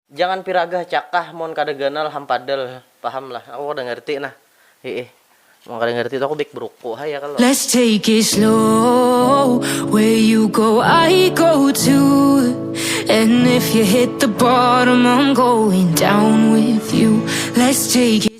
Jangan piragah cakah mun kada ganal hampadal paham lah aku kada ngerti nah hiih mun kada ngerti tu aku baik beruku haja kalo. Let's take it slow Where you go I go too And if you hit the bottom I'm going down with you Let's take it.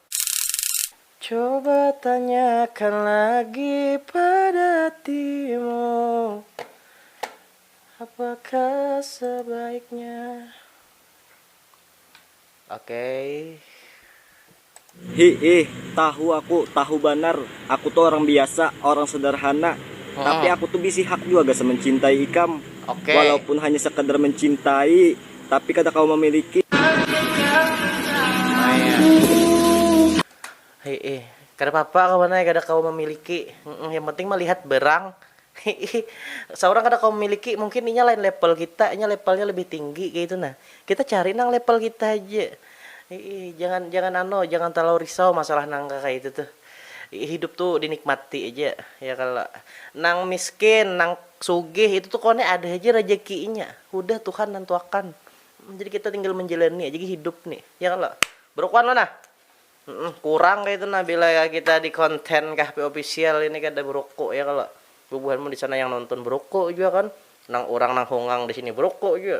Coba tanyakan lagi pada hatimu Apakah sebaiknya Oke. Hiih, tahu aku, tahu banar, aku tu orang biasa, orang sederhana, tapi aku tu bisi hak jua gasan mencintai ikam, walaupun hanya sekadar mencintai. tapi kada kawa mamiliki. Hihi, kada papa kawan ai kada kawa mamiliki, yang penting malihat barang, hihi, saurang kada kawa mamiliki mungkin inya lain level kita, inya levelnya lebih tinggi kaya itu nah, kita cari nang level kita haja, hihi, jangan jangan anu jangan talalu risau masalah nang kaya itu tuh, hidup tuh dinikmati aja ya kalo, nang miskin nang. Sugih itu tuh koni ada haja rajakinya hudah tuhan nantuakan jadi kita tinggal manjalani aja gin hidup nih ya kalo brukuan lo nah kurang kaya itu nah bila kita di konten kahpi official ini kada beruku ya kalo bubuhanmu disana yang nonton beruku jua kan nang urang nang hongang disini beruku jua.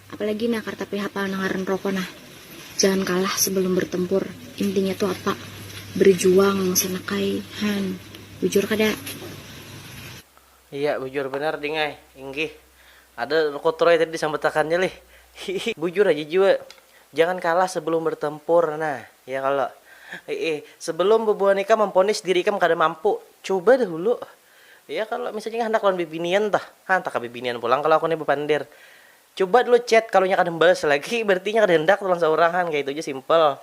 Apalagi nah kada tapi hapal nang ngaran roko nah. Jangan kalah sebelum bertempur, intinya tu apa? Berjuang sanak ai, han. Bujur kada? Iya, bujur banar ding ai. Inggih. Ada roko troy tadi disambatakannya lih. Hihi. Bujur haja jua. Jangan kalah sebelum bertempur nah, ya kalo? Hiih. Sebelum bubuhan ikam memponis diri ikam kada mampu, cuba dahulu Iya kalo misalnya handak lawan bibinian tuh, ha antah ka bibinian pulang kalo aku ni bapander. Cuba dulu chat kalo inya kada membalas lagi berarti inya kada handak tu lawan saurang han kaitu ja simple.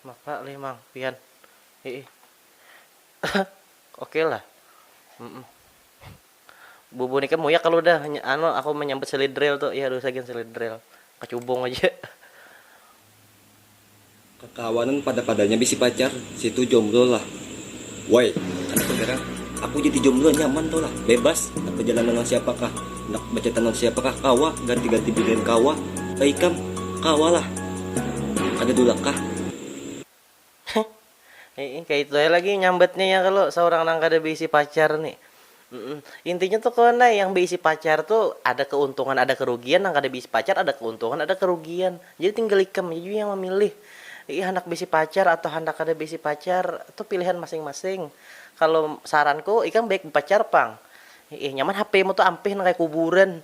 Mapa leh mang pian. Hiih. Oke lah. Bubu nika muyak kalau udah anu aku menyambut selidrel tu. Iya dosa gin selidrel. Kacubung aja. Kakawanan pada padanya bisi pacar, situ jomblo lah woi, kada keberang aku jadi jomblo nyaman tu lah, bebas, handak bejalan dengan siapa kah, handak bacatan dengan siapa kah kawa, ganti ganti binian kawa, baikam kawa lah, kada dulak kah. Heh, kaitu ai lagi nyambatnya ya kalo saurang nang kada baisi pacar ni. Intinya tu kawan ai, yang baisi pacar tu ada keuntungan ada kerugian, nang kada baisi pacar ada keuntungan ada kerugian. Jadi tinggal ikam ja jua yang mamilih, handak baisi pacar atau handak kada baisi pacar tu pilihan masing-masing. Kalo saranku ikam baik bapacar pang, nyaman hp mu tu ampih nang kaya kuburan.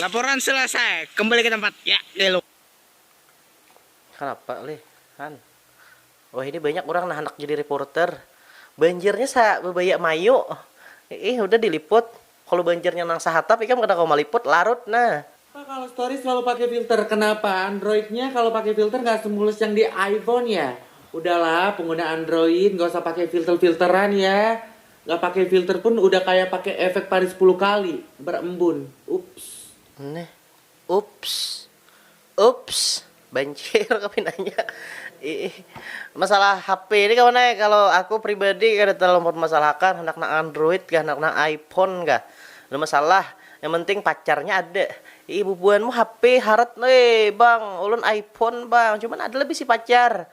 Laporan selesai, kembali ke tempat. Ya, Lelo. Kanapa leh, Han? Wah ini banyak urang nah handak jadi reporter. Banjirnya sa babaya mayu. Iih hudah diliput. Kalu banjirnya nang sahatap ikam kada kawa maliput, larut nah. Kenapa kalau story selalu pakai filter? Kenapa androidnya kalau pakai filter nggak semulus yang di iPhone ya? Udahlah pengguna android nggak usah pakai filter-filteran ya. Ga pakai filter pun udah kaya pakai efek pari sepuluh kali berembun. Ups. Neh. Ups. Ups. Banjir kah pinanya. Iih. Masalah HP ni kawan ai, kalo aku pribadi kada terlalu mempermasalahakan handak nang android kah, handak nang iphone kah. Kada masalah. Yang penting pacarnya ada. Iih bubuhanmu HP harat. Hei bang, ulun iphone bang, cuman ada lah bisi pacar.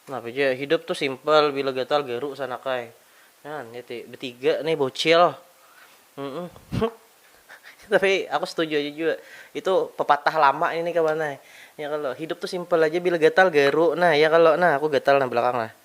Napa ja, hidup tu simpel bila gatal garu sanakai. Nah, ni ti betiga nih bocil. Tapi aku setuju aja jua, itu pepatah lama ini kawan ai. Ya kalo, hidup tu simpel aja bila gatal garu nah, ya kalo nah, aku gatal nah belakang nah.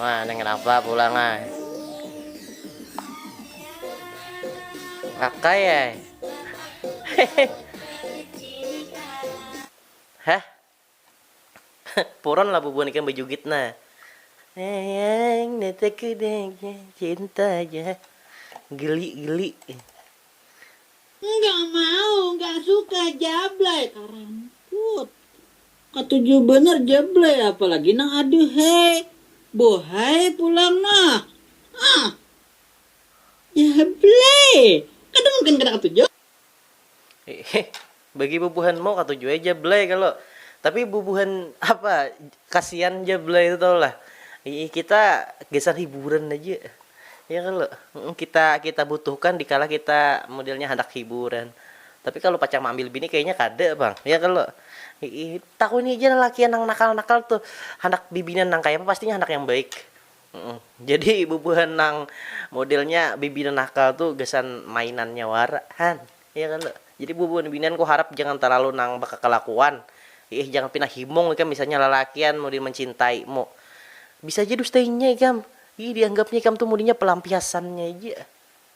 Wah, neng kenapa pulang ah? Kakak ya? Hah? Puron lah bubuhan ikan bejugit nah. Ayang, nataku deh, cinta aja. Geli, geli. Nggak mau, nggak suka jablay, karamput. Katuju banar jablay, apalagi nang aduhhai, buhay pulang noh. Huh. Jablay, kada mungkin kada katuju. Hih, bagi bubuhanmu katuju ai jablay kalo. Tapi bubuhan apa Kasian ja belai tu tahu lah iih kita gasan hiburan haja ya kalo kita kita butuhkan dikala kita modelnya handak hiburan tapi kalo pacang maambil bini kayanya kada pang ya kalo iih takuni ja lalakian nang nakal nakal tu handak bibinian nang kayapa pastinya handak yang baik. Jadi bubuhan nang modelnya bibinian nakal tu gasan mainannya wara han ya kan tu. Jadi bubuhan binian ku harap jangan talalu nang bakakalakuan iih jangan pina himung ikam misalnya lalakian mudin mancintai mu bisa ja dustainya ikam iih dianggapnya ikam tu mudinya palampiasannya ja.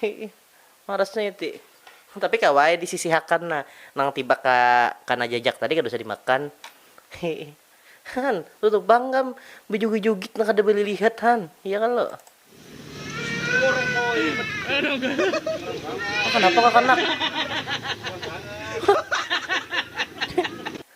Hiih marasnya iti. Tapi kawa ai disisihakan nah, nang tiba ka kana jajak tadi kada usah dimakan. Hiih. Han, tutup pang kam bejugit-jugit nang kada balilihat han, iya kalo. Kanapa kakanak.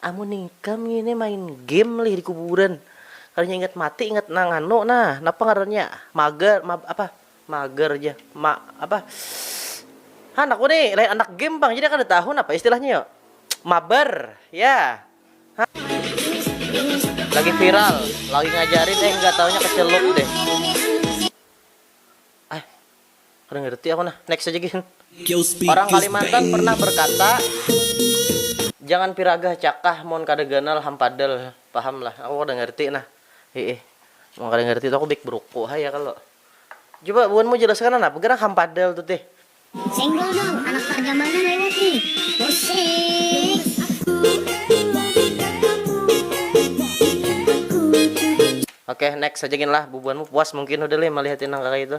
Amun ikam ngini main game lih di kuburan, kadanya ingat mati ingat nang anu nah napa ngarannya mager ma apa mager ja ma apa han aku ni lain anak game pang jadi kada tahu napa istilahnya yo mabar ya ha lagi viral lagi ngajarin eh nggak taunya keceluk deh ah. Kada ngerti aku nah, next aja gin. Orang Kalimantan pernah berkata jangan piragah cakah mun kada ganal hampadal, paham lah. Aku kada ngerti nah, hiih. Mun kada ngerti tu aku big bruku ha ya kalo. Coba buhanmu jelaskan nah napa gerang hampadal tu tih. Senggol dong, anak parjamanan lewat ni. Oke, next aja gin lah, bubuhanmu puas mungkin udah lih malihati nang kaya itu.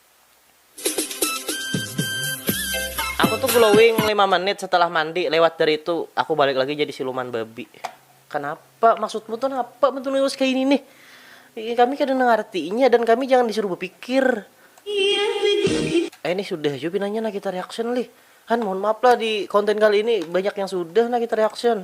Aku tuh glowing lima menit setelah mandi, lewat dari itu aku balik lagi jadi siluman babi. Kanapa? Maksudmu tuh napa menulis kaya ini nih? Kami kada nangartinya dan kami jangan disuruh bepikir. Eh nih sudah jua pinanya Nagita Reaction lih. Han mohon maaf lah di konten kali ini banyak yang sudah Nagita Reaction.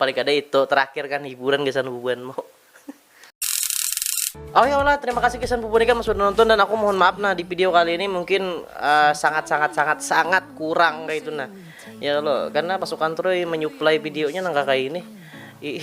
Paling kada itu terakhir kan hiburan gasan bubuhan mu. Okelah terima kasih gasan bubuhan ikam sudah nonton dan aku mohon maaf nah di video kali ini mungkin sangat sangat sangat sangat kurang kaitu nah ya lo karena pasukan troy menyuplai videonya nang kakaini ih